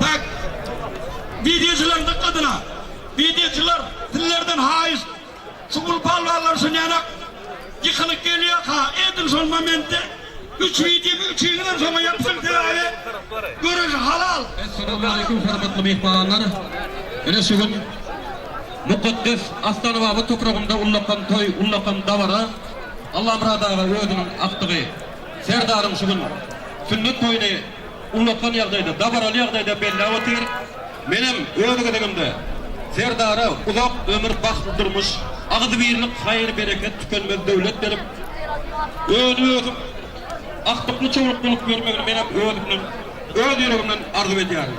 Tak. Wideoçylaryň dykgatyna! Wideoçylar, sizlerden haýyş! Şu uly palwanlar şu nänak ýykylyk gelýärka, edil şol momentde üç wideomy üçüňizem şoňa ýapyşyň, sebäbi göreş halal! Essalawmaleýkum hormatly myhmanlar! Ine şu gün mukaddes Astanababa topragynda ullakan toý, ullakan dabara Allamyrat aga özüniň agtygy, Serdaryň şu gün sünnet toýuny ullakan ýagdaýda, dabaraly ýagdaýda belläp otyr. Menem öz gezegimde Serdara uzak ömür, bagtly durmuş, agzybirlik, haýyr-bereket, tükenmez döwlet berip, öni-ösüp, aktykly çowluk bolup ýörmegini menem özümden, öz ýüregimden arzuw edýärin.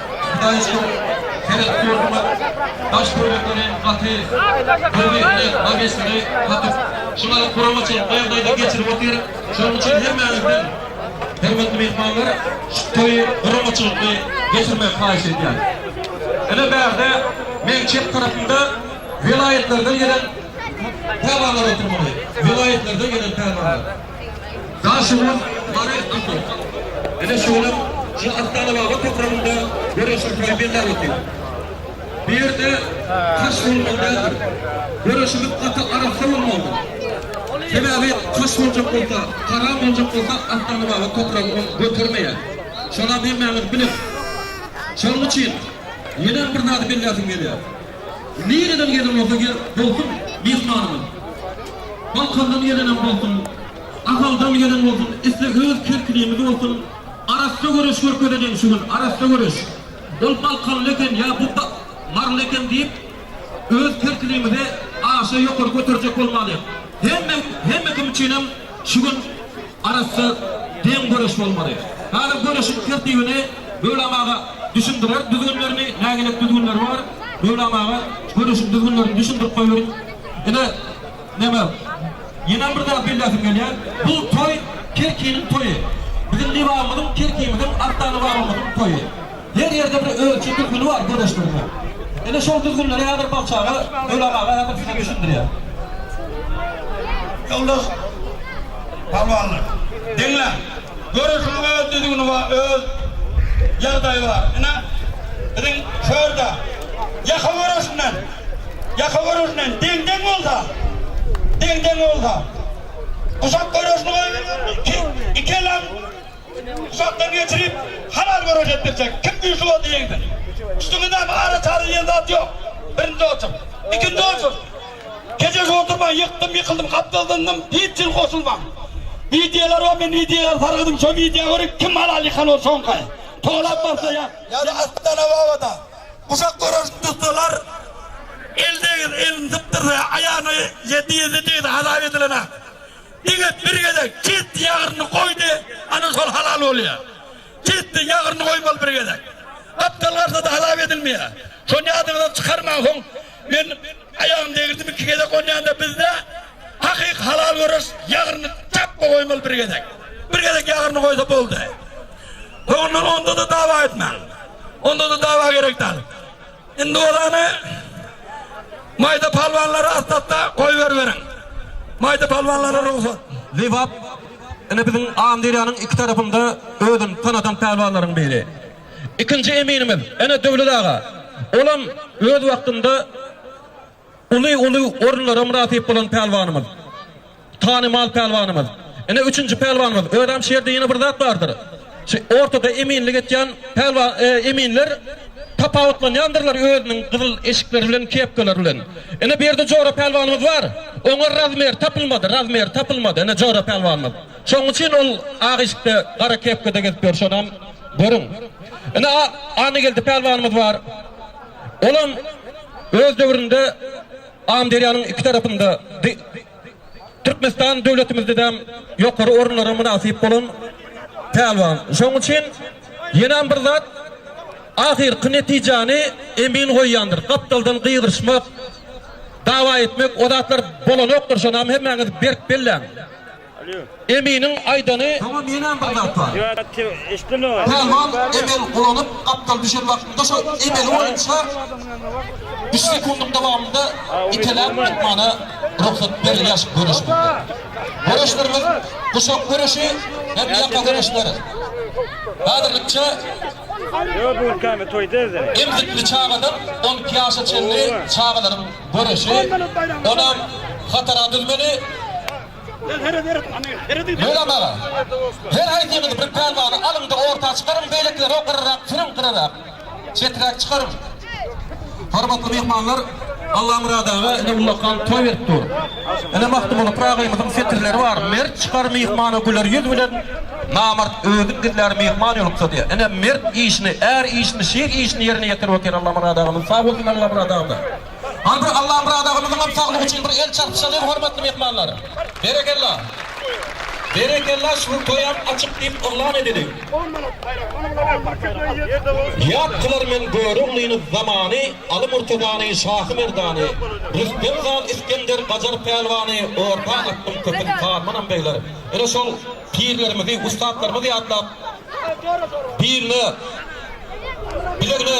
Hytaýçyň seret ýurdumyz daş töwerekleri gaty bir-birine magesini gatyp, şuňa guramaçylyk ýagdaýda geçirip otyr. Şonuň üçin hemmäňizden, hormatly myhmanlar, şu toýy guramaçylykly geçirmegi haýyş edýän. Ine bärde meň çep tarapymda welaýatlardan gelen pälwanlar oturmaly. Welaýatlardan gelen pälwanlar. Daşoguz, Mary, Akmyk. Ine şolar şu Astanababa topragynda göreşiň poýmeli zalysy. Bu ýerde taş bolmaly däldir. Göreşimiz gaty arassa bolmalydyr. Sebäbi taş boljak bolsa, haram boljak bolsa Astanababa topragy ony götermeýär. Şolam hemmäňiz bilis. Şonuň üçin ýenem bir zady belläsim gelýär. Nireden gelen bolsa gel bolsun myhmanymyz. Balkandan gelenem bolsun, Ahaldan gelen bolsun, isle öz kerkinimiz bolsun, arassa göreş görkezejeň şu gün, arassa göreş. Ol balkanly eken ýa bu maryly eken diýip, öz kerkinimizi aşa ýokary göterjek bolmalyň. Hemme, hemme kim üçinem Şu gün arassa deň göreş bolmaly. Häzir göreşiň tertibini Möwlam aga düşündirer. Düzgünlerini, nägilelik düzgünleri bar. Möwlam aga göreşiň düzgünlerini düşündirip goýberiň. Ine, näme, ýenem bir zat belläsim gelýär. Bu toý Kerkiniň toýy. Biziň Lebabymyzyň, Kerkimiziň, Akda Lebabymyzyň toýy. Her ýerde bir ölçi düzgüni bar gürleşdirmegiň. Ine şol düzgünleri häzir Balçaga Ölam aga häzir size düşündirýär. Ýoldaş Pälwanlar, diňläň! Göreşiň öz düzgüni bar, öz ýagdaýy bar. Ine, biziň şu ýerde ýaka göreşinden, ýaka göreşinden deň-deň bolsa, deň-deň bolsa, guşak göreşini goýberýärler, iki, iki elam, Uzakdan geçirip halal görüş etdirsek kim güýçli boldy ýeňdi. Üstüňi näme ara çary diýen zat ýok. Birinji otur. Ikinji otur. Keje şu oturmaň ýykdym ýykyldym gapdal zyndym hiç jin goşulmaň. Wideolar bar men wideolar sargydym şo wideo görip kim halal ýykan ol soňky. Tolap barsa ýa. Ýa-da Astana Babada. Uşak göreşini tutsalar el degir elini sypdyrsa ýa aýagyna ýedi ýedi degse hasap edilene. Diňe bir gezek ketdi ýagryny goýdy ana şol halal bolýa. Ketdi ýagryny goýmaly bir gezek. Gapdal garsada halap edilmeýä. Şony ýadyňyzdan çykarmaň soň men aýagym degirdim iki gezek onýanda bizde hakyky halal göreş ýagryny çapma goýmaly bir gezek. Bir gezek ýagryny goýsa boldy. Soňundan onda-da dawa etmäň. Onda-da dawa gerek dal. Indi bolany Maýda palwanlary astatda goýberiberiň. Maýda palwanlara rugsat. Lebap ine biziň Amyderýanyň iki tarapynda özüni tanadan pälwanlaryň biri. Ikinji eminimiz ine Döwlet aga. Olam öz wagtynda. uly uly orunlara mynasyp bolan pälwanymyz, tanymal pälwanymyz, ine üçünji pälwanymyz, özem şu ýerde ýene bir zat bardyr, şu ortada eminlik etýän pälwa e, eminler tapawutlanýandyrlar özüniň gyzyl eşikleri bilen, kepkalar bilen. Ine bu ýerde Jora pälwanymyz bar, oňa razmer tapylmady, razmer tapylmady, ine Jora pälwanymyz. Şonuň üçin ol ak eşikde, gara kepkada gezip ýör, şonam görüň. Ine Annageldi pälwanymyz bar. Olam Öz döwründe Amyderýanyň iki tarapynda di Türkmenistan döwletimizdedem ýokary orunlara mynasyp bolan Pälwan. Şonuň üçin ýenem bir zat ahyrky netijäni emin goýýandyr. Gapdaldan gygyryşmak, dawa etmek o zatlar bolanokdyr, şonam hemmäňiz berk belläň. Eminiň aýdany Pälwan emel ulanyp gapdal düşen wagtynda şo emeli boýunça üç sekundyň dowamynda iteläp atmana rugsat berilýär göreş boýunça. Göreşlerimiz guşak göreşi hem ýaka göreşleri. Häzirlikçe emzikli çagadan on iki ýaşa çenli çagalaryň göreşi onam hatara düzmeli. Mölam aga, her haýsyňyz bir pälwany alyň-da orta çykaryň, beýlekileri gyrarak sürüň, gyrarak, çeträk çykaryň. Hormatly myhmanlar, Allamyrat aga ine ullakan toý berip dur. Ine Magtymguly Pyra agaýymyzyň setirleri bar, Mert çykar myhmana güler ýüz bilen, namart özün gizlär myhman ýoluksa diýýär. Ine mert işini, är işini, şir işini ýerine ýetirip otyr Allamyrat agamyz. Sag bolsun Allamyrat agam-da. Al bir Allamyrat agamyzyňam saglygy üçin bir el çarpyşalyň hormatly myhmanlar. Berekella. Berekella şu toýam açyk diýip yglan edeliň. On manat baýrak mana bula on bir köpüre ýetdi bu. Ýat kylar men Göroglyny zamany, Aly Murtazany, Şahy Merdany, Rüstem han, Isgender, Gajar Pälwany, orta atdyň köpün harmanam beýler. Ine şol pirlerimizi, ussatlarymyzy ýatlap, biline, bilegine,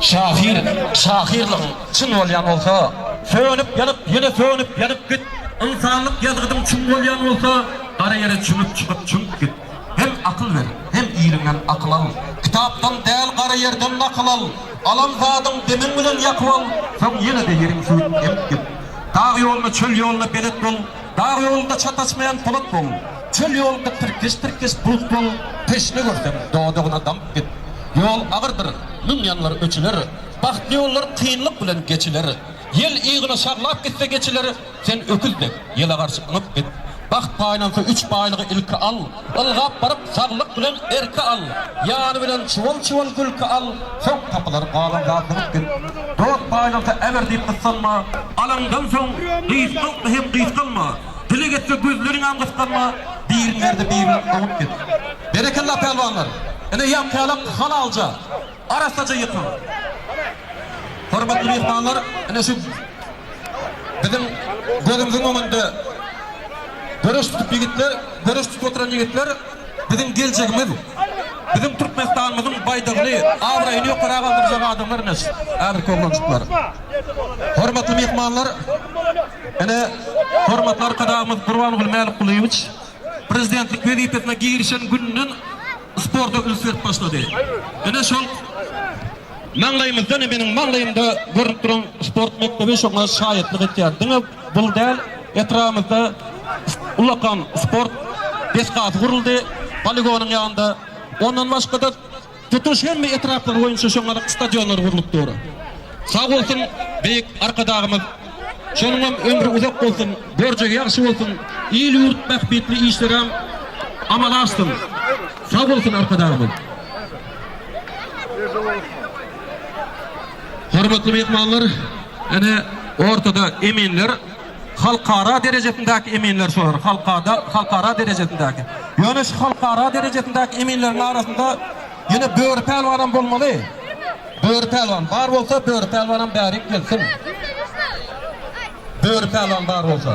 Şahyr şahyrlygyň çyn bolýan bolsa, sönüp ýanyp ýene sönüp ýanyp git, ynsanlyk ýazgydyň çyn bolýan bolsa, gara ýere çümüp çykyp çümüp git. Hem akyl ber, hem iliňden akyl al, kitapdan däl gara ýerden nakyl al, alan zadyň demiň bilen ýakyp al, soň ýene-de ýeriň süýt emip git. Dag ýoluna, çöl ýoluna belet bol. Dag ýolunda çataşmaýan polat bol, Çöl ýolunda tirkeş-tirkeş bulut bol. Teşne görseň, dodagyna damyp git. Ýol agyrdyr, müň ýanlar öçüler, Bagtly ýollar kynlyk bilen geçiler. Ýel yzyna şaglap gitse geçiler, Sen öküz dek, ýele garşy yňyp git. Bagt paýlansa üç baýlygy ilki al. Ylgap baryp saglyk bilen erki al, Ýany bilen çuwal-çuwal gülki al. Soň gapylary galan zat bolup git, Dost baýlansa äber diýip gyssanma. Alaňdan soň gysgaltma hem gysgalma, Dileg etse gözleriňem gysganma. Biriň derdi birinden oňup git. Berekella pälwanlar! Ine ýaňky ýalak halalja. Arassaja ýykyň. Hormatly myhmanlar, ine şu biziň gözümiziň öňünde göreş tutup ýigitler, göreş tutup oturan ýigitler biziň geljegimiz. Biziň Türkmenistanymyzyň baýdagyny, abraýyny ýokara galdyrjak adamlar ine şu häzirki oglanjyklar. Hormatly myhmanlar, ine hormatly Arkadagymyz Gurbangul Mälikgulyýewiç prezidentlik wezipesine girişen gününden sporta üns berip başlady. Ine şol maňlaýymyzda, ine meniň maňlaýymda görnüp duran sport mekdebi şoňa şaýatlyk etýär. Diňe bul däl, etrabymyzda ullakan sport desgasy guruldy, poligonyň ýanynda. Ondan başga-da Tutuş hemme etraplar boýunça şoňaryk stadionlar gurlup dur. Sag bolsun beýik Arkadagymyz şonuňam ömri uzak bolsun borjy ýagşy bolsun il ýurt bähbitli işleräm amala aşsyn sag bolsun Arkadagymyz. Hormatly myhmanlar ene ortada eminler. Halkara derejesindäki eminler şolar, halkada, halkara derejesindäki. Ýöne şu halkara derejesindäki eminleriň arasynda ýene Böri pälwanam bolmaly. Böri pälwan bar bolsa, Böri pälwanam bärik gelsin. Böri pälwan bar bolsa.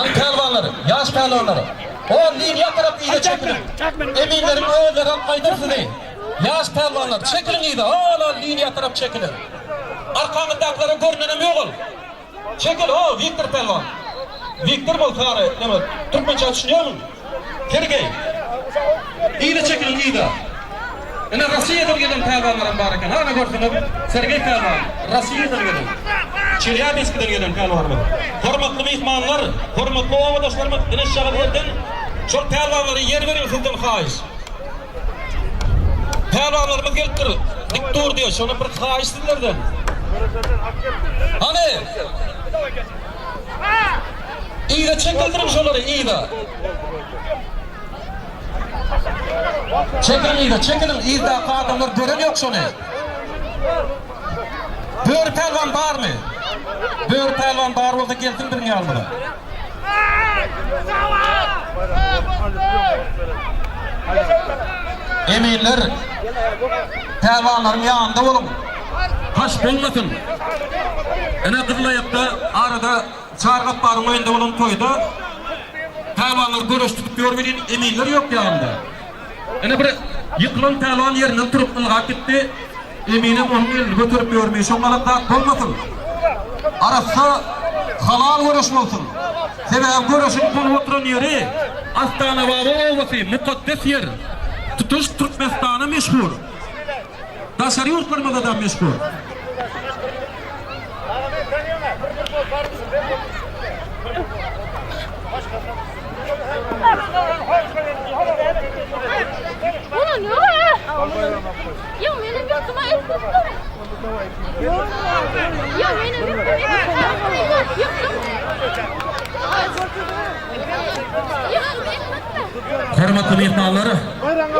Aý pälwanlar, ýaş pälwanlar, on liniýa tarap yza çekiliň! Eminleriň özleri alyp gaýdar sizi! Ýaş pälwanlar, çekiliň yza, hol-ol liniýa tarap çekiliň! Arkaňyzdakylara görnenem ýok ol! Çekil, ho, Wiktor pälwan! Wiktor bol, sary, näme, türkmençä düşünýärmiň? Sergeý! Yza çekiliň, yza! Ine, Rossiýadan gelen pälwanlaram bar eken. Hany, görseňiz, Sergeý pälwan, Rossiýadan gelen, Çelýabinskiden gelen pälwanlar. Hormatly myhmanlar, hormatly obadaşlarymyz, ine, şagal ýerden şol pälwanlara ýer beriň, sizden haýyş. Pälwanlarymyz gelipdir, dik dur diýýär, şonam bir haýyş sizlerden. Hany! Yza çekildiriň şolary yza. Çekiliň yza çekiliň yzdaky adamlar gören ýok şony. Böri pälwan barmy? Böri pälwan bar bolsa gelsin biziň ýanymyza. Eminler pälwanlaryň ýanynda boluň. Haş bolmasyn. Ine gyzylaýakda arada Çary Gapbaryň öýünde bolan toýda pälwanlar göreş tutup ýör welin, eminler ýok ýanynda. Ine, bir ýykylan pälwan ýerinden turup, ylgap gitdi. Eminem onuň elini göterip ýörmi, şoňňalak zat bolmasyn! Arassa, halal göreş bolsun! Sebäbi göreşiň bolup oturan ýeri Astanababa obasy, mukaddes ýer. Tutuş Türkmenistana meşhur. Daşary ýurtlarymyzda-da meşhur. Hormatly myhmanlar,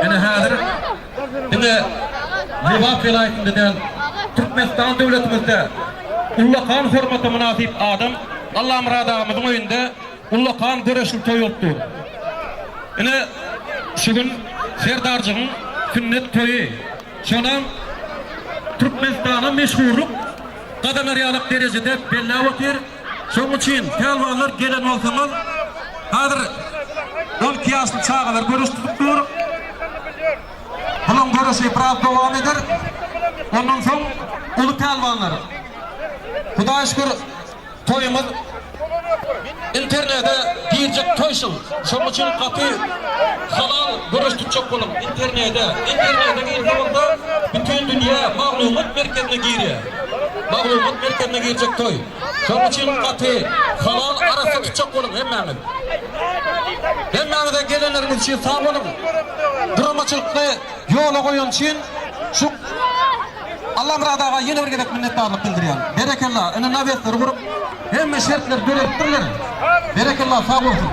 ine häzir diňe Lebap welaýatynda däl, Türkmenistan döwletimizde ullakan hormata mynasyp adam Allamyrat agamyzyň öýünde ullakan göreşli toý bolup dur. Ine, şu gün Serdarjygyň sünnet toýy. Şonam Türkmenistana meşhurlyk gazanarýalak derejede belläp otyr. Şonuň üçin pälwanlar gelen bolsaňyz hazir on iki ýaşly çagalar göreş tutup dur. Bulaň göreşi biraz dowam eder. Ondan soň uly pälwanlar. Hudaýa şükür toýumyz internede girjek toý şul. Şonuň üçin gaty halal göreş tutjak boluň internede. Internede girse bolsa bütin dünýä maglumat merkezine girýär. Maglumat merkezine girjek toý. Şonuň üçin gaty halal arassa tutjak boluň hemmäňiz. Hemmäňize gelenleriňiz üçin sag boluň. Guramaçylykly ýola goýan üçin şu Allamyrat aga ýene bir gezek minnetdarlyk bildirýän. Berekella ine nawesleri gurup hemme şertleri döredipdirler. Berekella sag bolsun.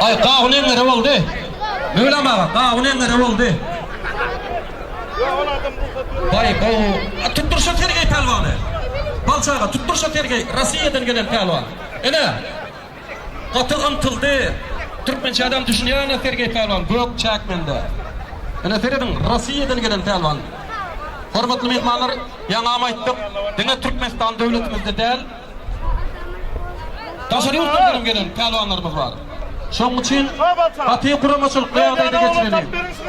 Ay gawun eňňere boldy. Möwlam aga gawun eňňere boldy. Bay gowy. Tutdur şu Sergey pälwany. Balçy aga tutdur şu Sergey Rossiýadan gelen pälwan. Ene. Gaty ymtyldy. Türkmençe adam düşünýärmi Sergey pälwan gök çäk mende. Ene serediň Rossiýadan gelen pälwan. Hormatly myhmanlar ýaňam aýtdyk diňe Türkmenistan döwletimizde däl. Daşary ýurtlardanam gelen pälwanlarymyz bar. Şonuň üçin gaty guramaçylykly ýagdaýda geçireli.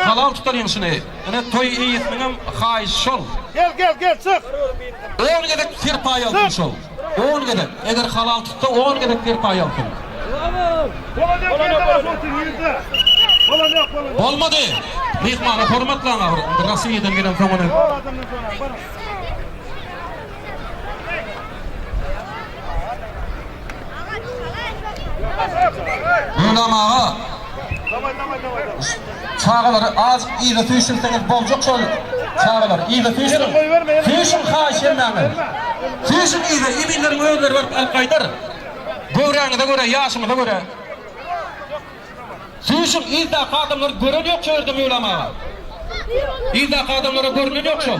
Halal tutar ýeňşini. Ine toý eýesiniňem haýyşy şol. On gezek serpaý alsyn şol. On gezek. Eger halal tutsa on gezek serpaý alsyn. Bolmady. Myhmana hormat laňa bir Rossiýadan gelen soňuny. Gulam aga. Çagalary azk yza süýşürseňiz boljak şol çagalar yza süýşüriň. Süýşüň haýyş edýän men. Süýşüň yza eminleriň özleri baryp alyp gaýdar. Göwräňize görä ýaşyňyza görä. Süýşüň yzdaky adamlary gören ýok şu ýerde Möwlam aga. Yzdaky adamlara görünen ýok şol.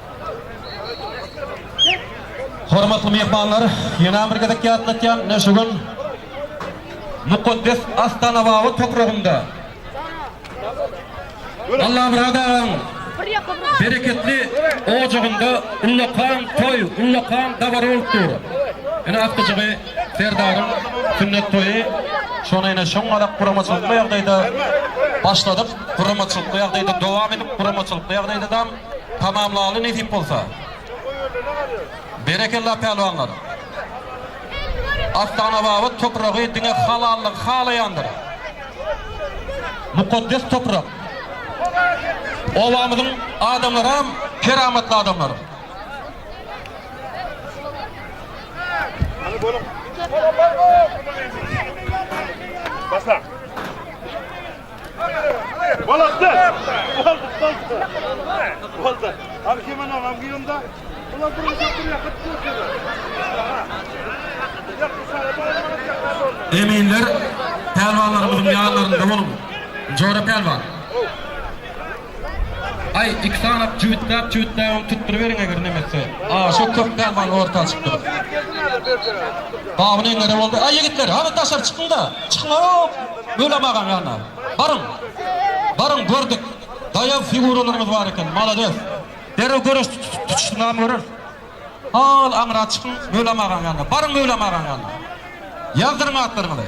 Hormatly myhmanlar, ýöne bir gezek ýatlatýan, ine şu gün mukaddes Astanababa topragynda Allamyrat agaň bereketli ojagynda ullakan toý, ullakan dabara bolup dur. Ine akdyjygy Serdaryň sünnet toýy şony ýene şoň galak guramaçylykly ýagdaýda başladyk, guramaçylykly ýagdaýda dowam edip, guramaçylykly ýagdaýda dam. tamamlaly nesip bolsa. Berekella pälwanlar. Astanababat topragy diňe halallygy halaýandyr. Mukaddes toprak. Obamyzyň adamlaram keramatly adamlar. Başla. Eminler pälwanlarymyzyň ýanlarynda boluň! Njora pälwan! Aý, iki sanap jübütläp jübütläbem tutduryberiň eger nemesse. Aa, şo köp däl maňa orta açyp durup. Baby neňňede boldy. Aý, ýigitler, hany daşary çykyň-da. Çykyň-ow! Mölam agaň ýanyna. Baryň. Baryň, gördük. Daýaw figuralaryňyz bar eken. Malades. Derrew göreş tutuşynam göreris. Hal aňra çykyň, Mölam agaň ýanyna. Baryň Mölam agaň ýanyna. Ýazdyryň atlaryňyzy.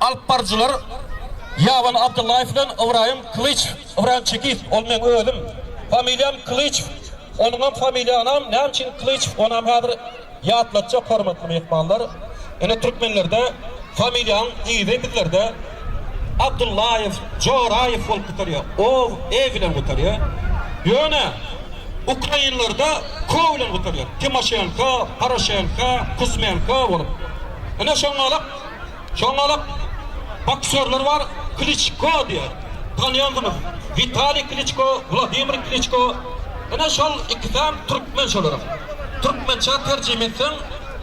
Alyp baryjylar Ýaban Abdyllaýew bilen Ybraýym Kylyç, Ybraýym Çekiýew, ol meň özüm. Familiýam Kylyçew. Onuňam familiýanam näme üçin Klyçew onam häzir ýatlatjak hormatly myhmanlar. Ine türkmenlerde familiýaň yzy bizlerde Abdullaýew, Joraýew bolup gutarýar. Ow, ew bilen gutarýar. Ýöne ukrainlerde kow bilen gutarýar. Timoşenko, Poroşenko, Kuzmenko bolup. Ine şoňňalyk. Şondalyk boksýorlar bar, Kliçko diýer. Tanýandyňyz. Witaliý Kliçko, Wladimir Kliçko. Ine şol ikisem türkmen şolaram. Türkmençä terjime etseň,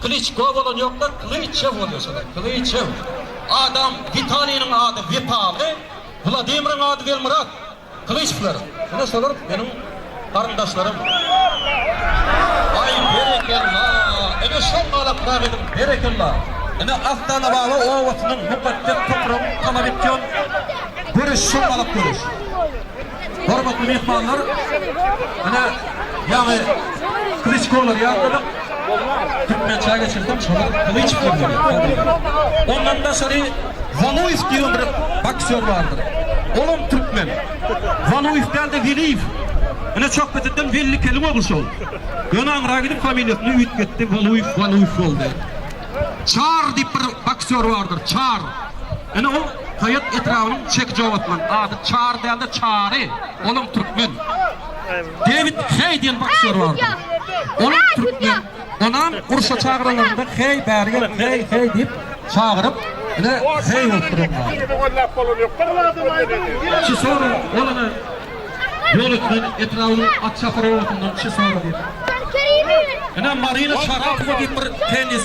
Kliçko bolan ýok-da, Klyçew bolýar şolar. Klyçew. Adam, Witaliýniň ady Witaly, Wladimiriň ady Welmyrat. Gylyçlar, ine şolar meniň garyndaşlarym. Aý, berekella! Ine şol galakrak ediň, berekella! Ine Astanababa obasynyň mukaddes topragyň talap etýän göreşi şol galak göreşi. Hormatly myhmanlar, ine ýaňy Klyçkolar ýatladyk. Kim meçä geçirsem şony gylyç bilen dörer, ok bilen. Ondan daşary Waluýew diýen bir boksýor bardyr. Olam türkmen. Waluýew däl-de Weliýew. Ine Çökbeteden Wellikeliň ogly şol. Ýöne aňra gidip familiýasyny üýtgetdi, Waluýew, Waluýew boldy. Çar diýip bir boksýor bardyr, Çar. Ine ol Saýat etrabynyň Çekijow atly. Ady Çar däl-de Çary. Olam türkmen. Dewid Heý diýen boksýor bardy. Olam türkmen. Onam urşa çagyranlarynda Heý bäri gel, heý, heý diýip çagyryp, ine heý bolup durýar. Çysora olana Ýolötmen etrabynyň Atçahyr obasyndan Çysora diýip. Ine Marina Çarapowa diýip bir tennis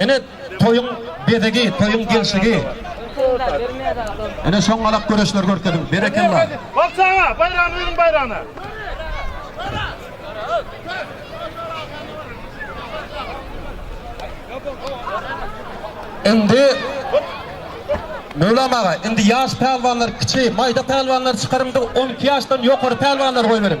Ine toýuň bezegi, toýuň gelşigi. Ine şoň galak göreşler görkeziň. Berekella. Bagşy aga, baýragyny beriň baýragyny. Indi Möwlam aga, indi ýaş pälwanlar, kiçi, maýda pälwanlar çykaryň-da, on iki ýaşdan ýokary pälwanlary goýberiň.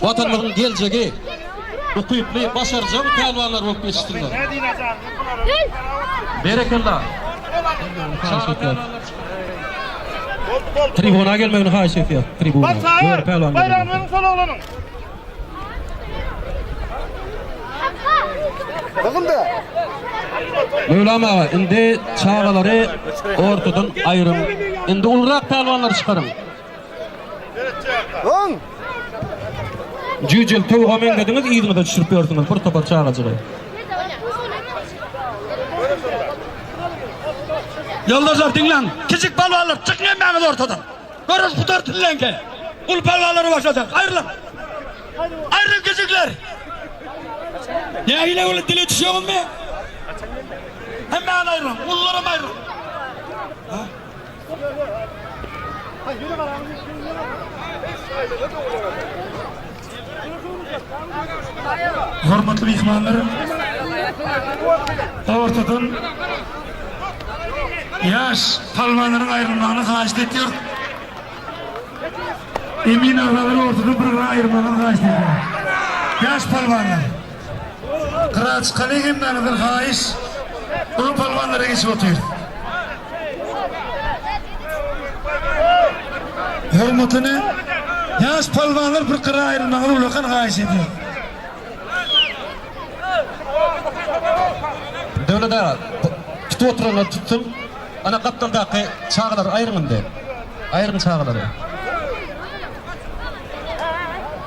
Watanymyzyň geljegi ukyply, başarjaň pälwanlar bolup ýetişsinler. Berekella. Tribuna gelmegini haýyş etýär. Tribuna. Ýöne pälwan. Baýragyny beriň şol oglanyň. Gyzylda. Möwlam aga, indi çagalary ortadan aýryň. Indi ulurak pälwanlary çykaryň. Öň! Jüýjüň towuga meňzediňiz yzyňyza düşürip ýörsüňiz bir topar çagajygy. Ýoldaşlar diňläň, kiçik palwanlar çykyň hemmäňiz ortadan. Göreş gutar diňleňkä. Uly palwanlary başlajaň. Aýrylyň. Aýrylyň kiçikler. Nähili uly dile düşýäňizmi? Hemmäňiz aýrylyň. Ulular hem aýrylyň. Hormatly myhmanlar, ortadan ýaş palwanlaryň aýrylmagyny haýyşt etýär. Emin agalary ortadan bir-birine aýyrmagyny haýyşt edýär. Ýaş palwanlar. Gyraç kale gelmäňizden haýyş. Uly palwanlara geçip otyrys. Hormatyny ýaş palwanlar bir gyra aýrylmaňyzy ullakan haýyş edýärin. Döwlet aga, tutup oturanlar tutsun. Ana gapdaldaky çagalary aýryň indi. Aýryň çagalary.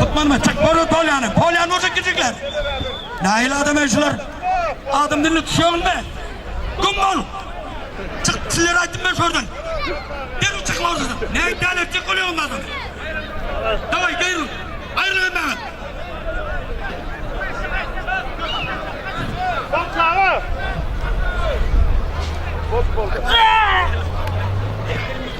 Gutmanma çek boru polýany. Polýan boşak kiçikler. Naýil adam ey şular. Adam dilini tutýagyň be. Güm bol. Çyk sizler aýtdym ben şordan. Derwi çyk ordadan. Näme däl etjek bolýaň onda adam. Daway derwi. Aýryl emmäňet. Bak çaga. Bok boldy.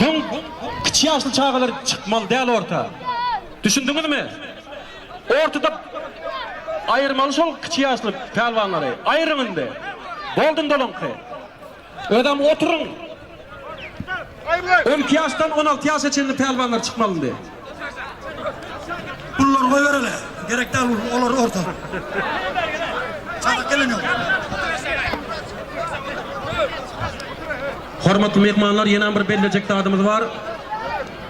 Soň kiçi ýaşly çagalar çykmaly däl orta. Düşündiňizmi? Ortada aýyrmaly şol kiçi ýaşly pälwanlary. Aýryň indi. Boldy indi olaňky. Özem oturyň. On iki ýaşdan on alty ýaşa çenli pälwanlar çykmaly indi. Pullary goýbereli. Gerek däl ol, olar orta. Çadak gelen ýok. Hormatly myhmanlar, ýenem bir bellejek zadymyz bar.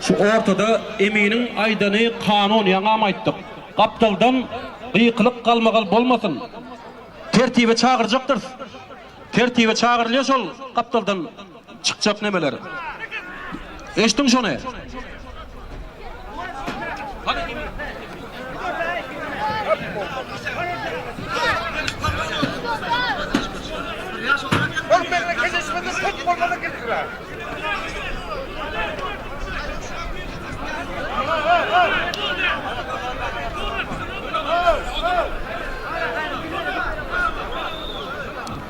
Şu ortada Eminiň aýdany kanun, ýaňam aýtdyk. Gapdaldan gykylyk galmagal bolmasyn. Tertibe çagyrjakdyrys. Tertibe çagyrylýa şol gapdaldan. Çykjak nemeler. Eşdiň şony?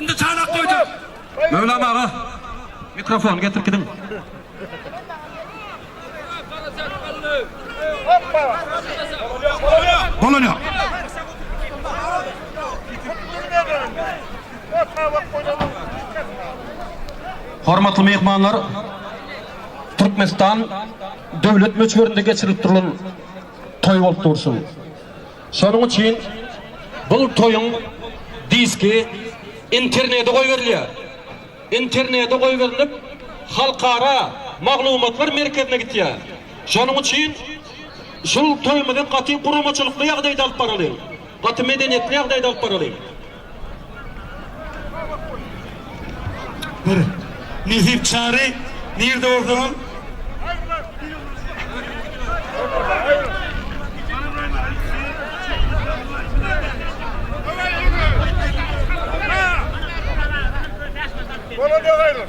Indi çanak goýduk. Möwlam aga, mikrofony getirip gidiň. Bolan yok. Hormatly mehmanlar, Türkmenistan döwlet möçberinde geçirilip durulan toý bolup dursun. Şonuň üçin bu toýuň diski internede goýberilýär. Internede goýberilip, Halkara maglumatlar merkezine gitýär. Şonuň üçin şul toýumyzy gaty guramaçylykly ýagdaýda alyp baralyň. Gaty medeniýetli ýagdaýda alyp baralyň. Bir. Nesip Çary nirde bolsaňam. Bola dogaylar.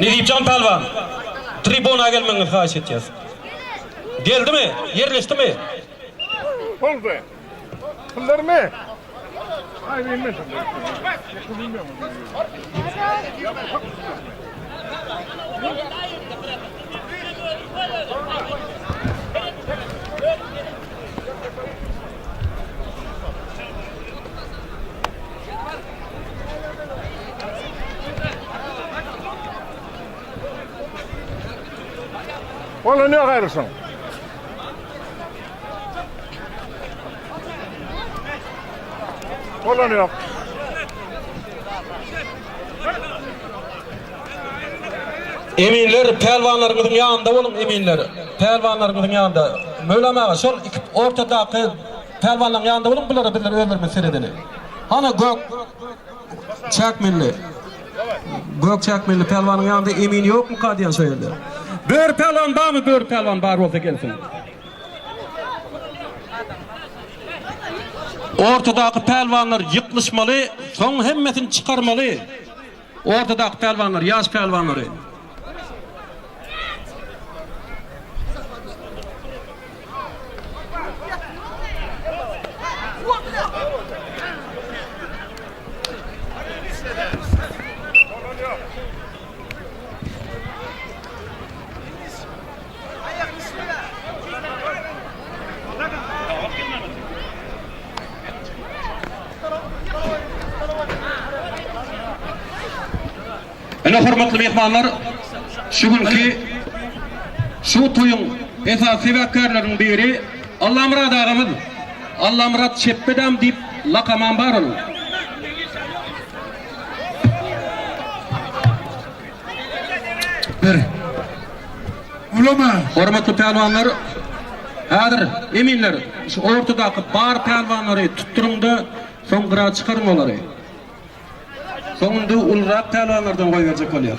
Nejibjan Pälwan, tribuna gelmegiňizi haýyş etýäs. Geldimi? Ýerleşdimi? Boldy. Pullarmy? Ola ne gaýrysyň? Ola ne ýok? Eminler, pälwanlaryňyzyň ýanynda boluň, eminler. Pälwanlaryňyzyň ýanynda. Möwlam aga, şol iki ortadaky Pälwanlaň ýanynda boluň bulara bizler özlerimiz seredeli. Hany gök çäkmilli. Gök çäkmilli pälwanyň ýanynda emin ýokmyka diýen şo ýerde. Böri pälwan barmy? Böri pälwan bar bolsa gelsin. Ortadaky pälwanlar ýyklyşmaly, soň hemmesini çykarmaly. Ortadaky pälwanlar ýaş pälwanlary. Ine hormatly myhmanlar, şu günki şu toýuň esasy sebäpkärleriniň biri Allamyrat agamyz. Allamyrat Çepbedam diýip lakamam bar onuň. Bir. Ulama. Hormatly pälwanlar, häzir eminler şu ortadaky bar pälwanlary tutduryň-da, soň gyra çykaryň olary. Soň indi ulurak pälwanlardan goýberjek bolýar.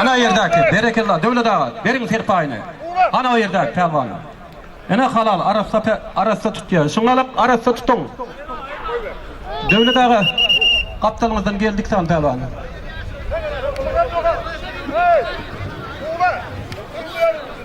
Ana o ýerdäki, berekella Döwlet aga, beriň serpaýyny. Ana o ýerdäki pälwany. Ene halal arassa pe, arassa tutýa. Şuňa alyp, arassa tutuň. Döwlet aga, gapdalyňyzdan geldik san pälwan.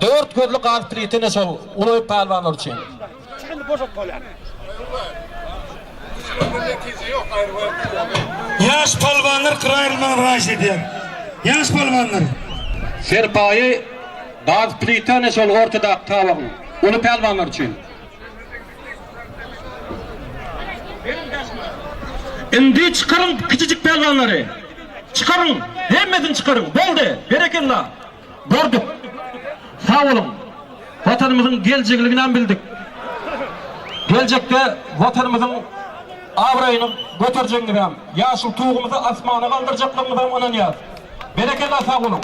Dört gözli gaz plitini şol uloýyp pälwanlar üçin. Ýaş palwanlar gyraýylmagy haýyş edýär. Ýaş palwanlar. Serpaýy gaz plitini şol ortadaky tabagyň uly pälwanlar üçin. Indi çykaryň kiçijik pälwanlary. Çykaryň, hemmesini çykaryň. Boldy. Berekella. Gördük. Sag boluň. Watanymyzyň geljegini ynam bildik. Geljekde Watanymyzyň abraýyny göterjegiňizem, ýaşyl Tugumyzy asmana galdyrjaklygyňyzam ynanýas. Berekella sag boluň.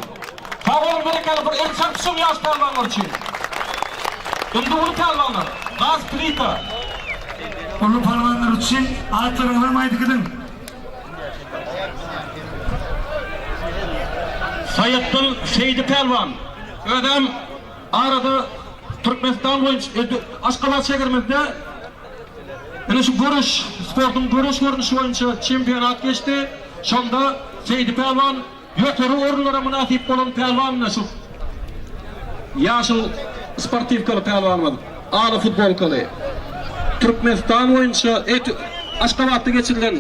Sag boluň berekella bir el çarpyşyň ýaş pälwanlar üçin. Indi uly pälwanlar. Gaz plita. Uly palwanlar üçin atlaryňyzam aýdyk ediň. Saýatdyl Seýdi Pälwan özem arada Türkmenistan boýunça Aşgabat şäherimizde ine şu göreş sportuň göreş görnüşi boýunça çempionat geçdi. Şonda Seýdi Pälwan Ýokary orunlara mynasyp bolan pälwanymyz-da şu ýaşyl sportiwkaly pälwanymyz, aly futbolkaly. Türkmenistan boýunça Aşgabatda geçirilen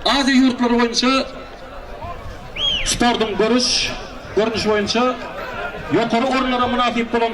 Aziýa ýurtlary boýunça sportuň göreş görnüşi boýunça ýokary orunlara mynasyp bolan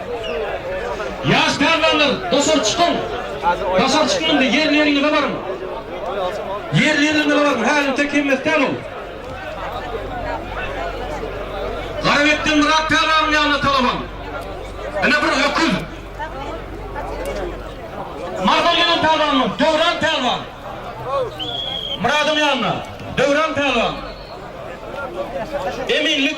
Ýaş pälwanlar, daşary çykyň! Daşary çykyň indi, ýerleriňize baryň! Ýerleriňize baryň, häzirçe kemmestäl ol! Garabekden Myrat pälwanyň ýanyna talabam. Ine bir öküz! Marydan gelen pälwanmyň? Döwran pälwan! Myradyň ýanyna, Döwran pälwan! Eminlik!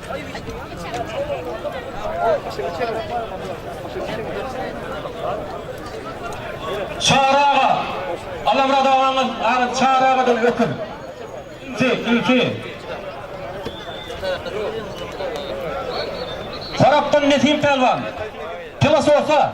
Çary aga, Alamyrat agaňyz aňyr Çary agadan ötün. Nji, ilki. Horapdan Nesim Pälwan. Pylys bolsa.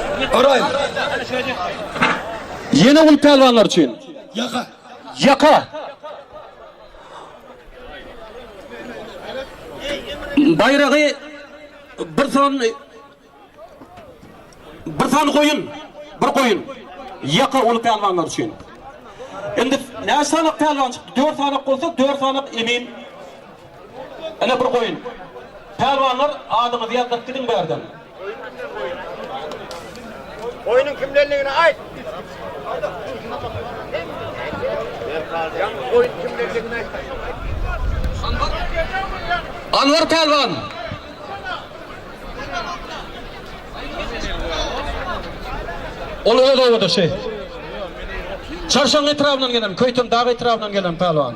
Garaýyň. Ýene uly pälwanlar üçin. Ýaka. Ýaka. Baýragy bir san bir san goýun, bir goýun. Ýaka uly pälwanlar üçin. Indi näçe sanak pälwan çykdy? 4 sanak bolsa 4 sanak emin Ene bir goýun. Pälwanlar adyňyzy ýazdyryp gidiň bärden. Goýun kimden goýun? Goýnuň kimdenligini aýt. Ýaňky goýun kimdenligini aýt. Anwar pälwan. Ol öz obadaşy. Çarşaň etrabyndan gelen, Köýtendag etrabyndan gelen pälwan.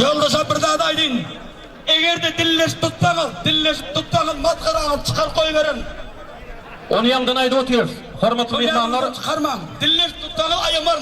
Ýoldaşa bir zat aýdyn. Egerde dilleşip tutsaňyz, dilleşip tutsaňyz masgaraňyz çykar goýberiň. Ony ýaňdan aýdyp otyrys. Hormatly myhmanlar. Ony çykarmaň. Dilleşip tutsaňyz aýamaň.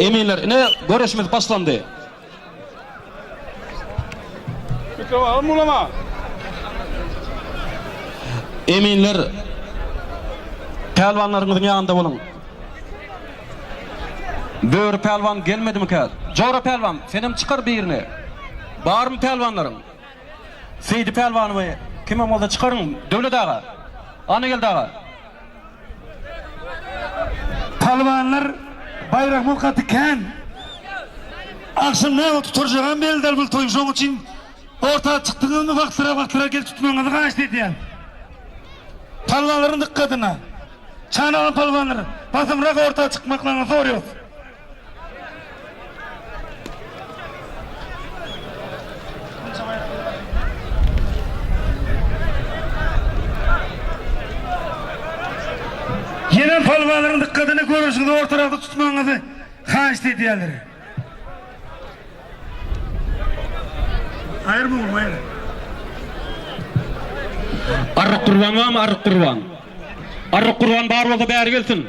Eminler, ine, göreşimiz başlandy. Eminler, pälwanlarymyzyň ýanynda boluň. Böri pälwan gelmedimikä? Jora pälwan, senem çykar birini. Barmy pälwanlaryň? Seýdi pälwanymy kimem bolsa çykaryň, Döwlet aga. Annageldi aga. Pälwanlar baýragyň gaty kän. Agşam näme tuturjagam belli däl bul toýuň şoň üçin orta çykdyňyzmy wagtlyrak wagtlyrak gelip tutmagyňyzy haýyşt edýän. Pälwanlaryň dykgatyna. Çanalan pälwanlar basymrak orta çykmaklaryňy sorýas. Ýene palwalaryň dykgatyny görüşiňizi ortarakda tutmagyňyzy haýyşt edýärler. Aýyr bu aýyr. Arryk gurban barmy arryk gurban? Arryk gurban bar bolsa bäri gelsin.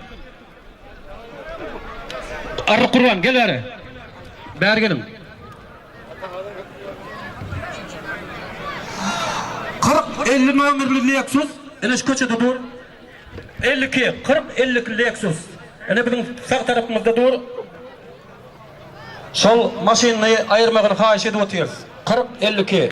Arryk gurban, gel bäri. Bäri geliň. Kyrk elli nomerli Lexus ine şu köçede dur. Elli iki, kyrk elli iki Lexus. Ine biziň sag tarapymyzda dur. Şol maşyny aýyrmagyny haýyş edip otyrys. Kyrk elli iki.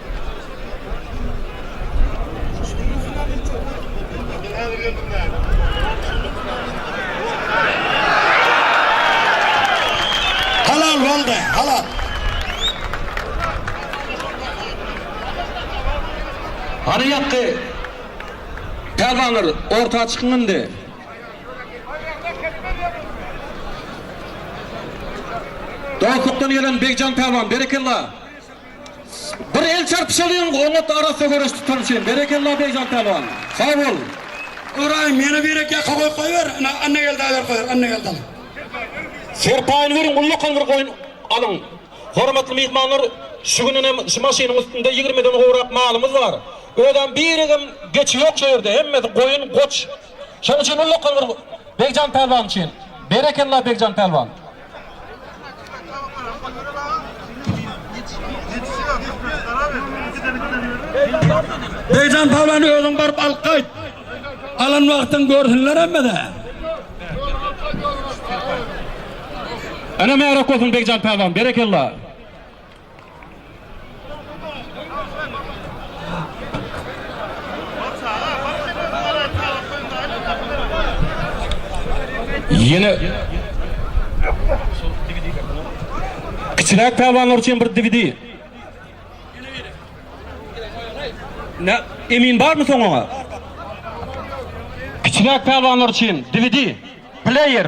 Hany ýakgy pälwanlar orta çykyň indi. Dostlukdan gelen Begjan pälwan berekella. Bir el çarpyşalyň oňat arassa göreş tutan üçin berekella Beýjan Pälwan. Sag bol. Ybraýym ýene birek ýaka goýup goýber ina Annageldi aýar goýar Annageldam. Serpaýyny beriň ullakan bir goýun alyň. Hormatly myhmanlar şu gün ine şu maşynyň üstünde ýigrimiden gowrak malymyz bar. Özem birigem geçi ýok şu ýerde hemmesi goýun goç. Şonuň üçin ulla kowur Begjan pälwan üçin. Berekella Begjan pälwan. Begjan pälwany özüň baryp alyp gaýt. Alan wagtyň görsünler hemmede. Öne märe kosun Begjan pälwan. Berekella. Ýene Kiçiräk pälwanlar üçin bir DVD. Ne? Emin barmy soň oňa? Kiçiräk pälwanlar üçin DVD, player.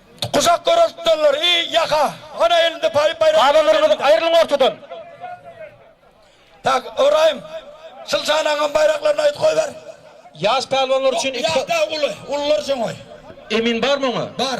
Guşak göreş tutanlar, i, ýaka! Ana, elinde paýyp baýrak. Aba Nurmuzyk, aýrylyň ortadan! Tak, Ybraýym, şul şanaňam baýraklaryny aýt goýber. Ýaş pälwanlar üçin iki. Ýaş däl, uly. Ulular üçin goý. Emin barmy oňa? Bar.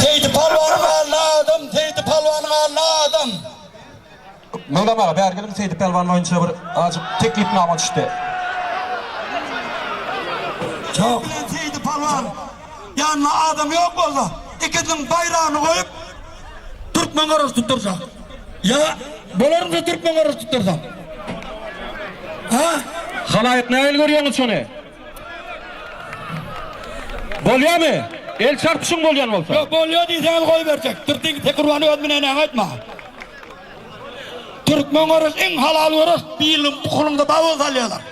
Seýdi palwanyň alny adam, Seýdi palwanyň alny adam. Meýram aga bäri geliň Seýdi Pälwan boýunça bir ajyk teklipnama düşdi. Şo bilen Seýdi Pälwan ýanynda adam ýok bolsa ikisiniň baýragyny goýup türkmen garaşy tutdyrsa. Ýa bolarmyka türkmen garaşy tutdyrsa. Ha? Halaýyk nähili görýäňiz şony? Bolýamy? El çarpyşyň bolýan bolsa. Ýok bolýa diýseňiz goýberjek. Türkmen Seýdi Pälwany öz binenäňe aýtma. Türkmen görüş iň halal görüş diýildi bu kulunda bar bolsa alýalar.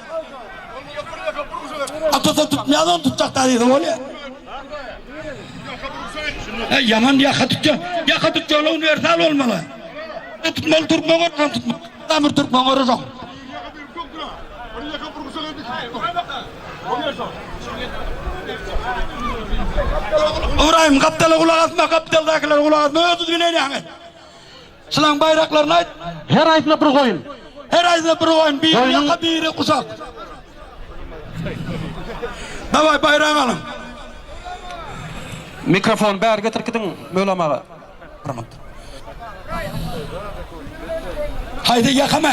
Atasa tutmaýan onu tutjak da diýse bolýar. Hey yaman yaka tutja. Yaka tutja ola universal olmaly. E tutmaly Türkmen görüş tutmaly. Tamir Türkmen görüş yok. Ibrahim kaptala kulak asma kaptaldakiler kulak asma ötüz binen yani. Çylaň baýraklaryny aýt. Her aýdyna bir goýun. Her aýdyna bir goýun. Biri Goýnuň- ýaka, biri guşak. Dawaý, baýragy alyň. Mikrofony bäri getir gidiň Mölam aga. Haýsy ýakamy?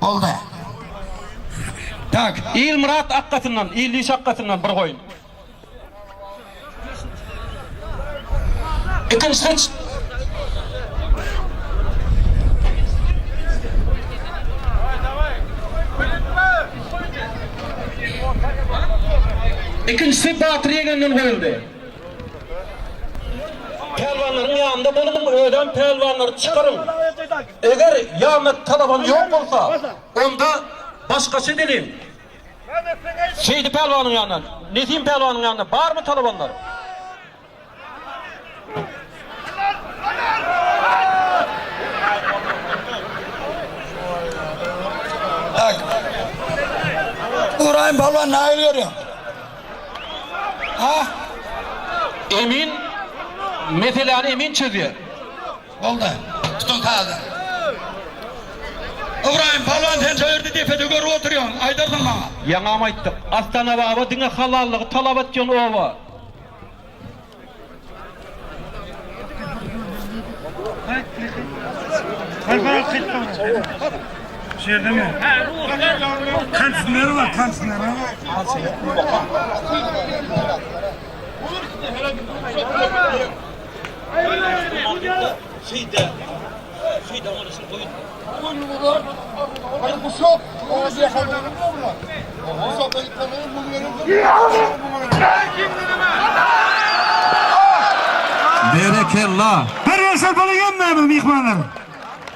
Boldy. Tak, Ilmyrat akgasyndan, Illi şakgasyndan bir goýun. Ikinji hyç. Ikinjisi Batyr ýeňenden goýuldy. Pälwanlaryň ýanynda boluň, özem pälwanlary çykaryň. Eger ýandaky talabam ýok bolsa, onda başgaça deliň. Şeýdi pälwanyň ýanynda, Nesim pälwanyň ýanynda barmy talabanlar? Tak. Ybraýym pälwan nähili görýäň? Ha? Emin meseläni Emin çözýär. Boldy. Tutuň sazdan. Ybraýym pälwan sen şo ýerde depede görüp oturýaň. Aýdarsyň maňa. Ýaňam aýtdyk. Astana baba diňe halallygy talap etýän oba. Berekella! Her ýaşar bala ýömmänmi myhmanlar?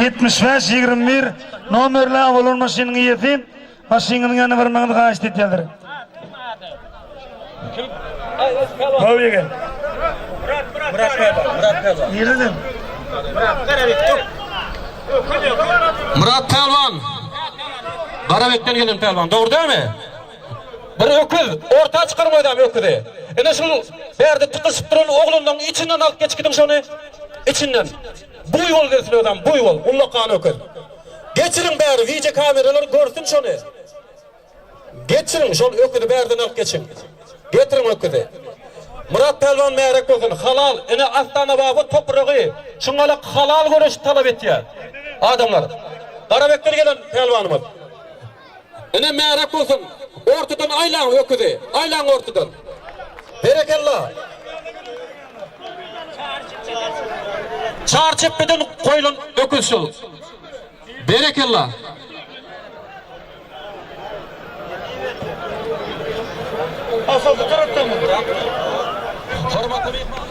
Ýetmiş bäş, ýigrimi bir nomerli awalon maşynyň eýesi, maşynyňyzyň ýanyna barmagyňyzy haýyşt edýärdir. Gowy ýigit. Nireden? Myrat Pälwan. Garabekden gelen Pälwan, dogry dälmi? Bir öküz, orta çykan goýdam öküzi. Ine şol bärde tykyşyp duran oglanlaň içinden alyp geç gidiň şony. Içinden. Buýol gelsin özem, buýol, ullakan öküz. Geçiriň bäri wideo kameralar görsün şony. Geçiriň şol öküzi bärden alyp geçiň. Getiriň öküzi. Myrat pälwan märek bolsun. Halal, ine Astana baba topragy şuňalak halal göreşi talap etýär. Adamlar. Garabekden gelen pälwanymyz. Ine märek bolsun ortadan aýlaň öküzi aýlaň ortadan. Berekella. Çar çepbeden goýlan öküz şol. Berekella. Hormatly myhman.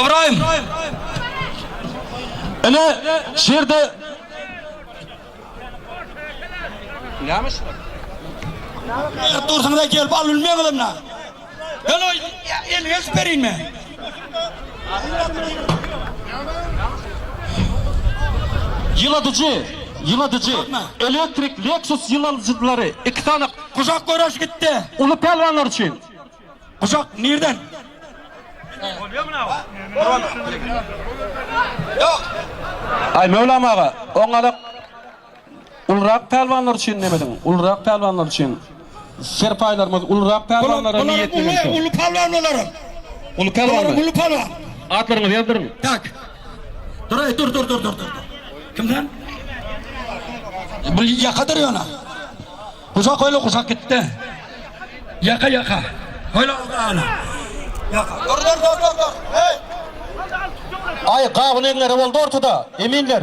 Ybraýym! Ine, şu ýerde Näme şular? Näme berip dursuňyz-a, gelip alybilmeýäňizem-le? Ýyladyjy, ýyladyjy, elektrik Lexus ýyladyjylary, iki sany. Gujak göreş gitdi. Uly pälwanlar üçin. Gujak nirden? Aý Möwlam aga, oňňalak. Ulurak pälwanlar üçin nemediň? Ulurak pälwanlar üçin serpaýlarymyz ulurak pälwanlara niýetli bolsa. Uluň uly pälwan bolaram. Uly pälwan. Bolaram uly pälwan. Atlaryňyzy ýazdyryň. Tak. Duraý dur dur dur dur dur. Kim sen? Bu ýaka dur ýöne. Guşak öýle guşak gitdi. Ýaka ýaka. Öýle ana. Ýaka. Dur dur dur dur dur. Heý. Aý gawun eňňere boldy ortada. Eminler.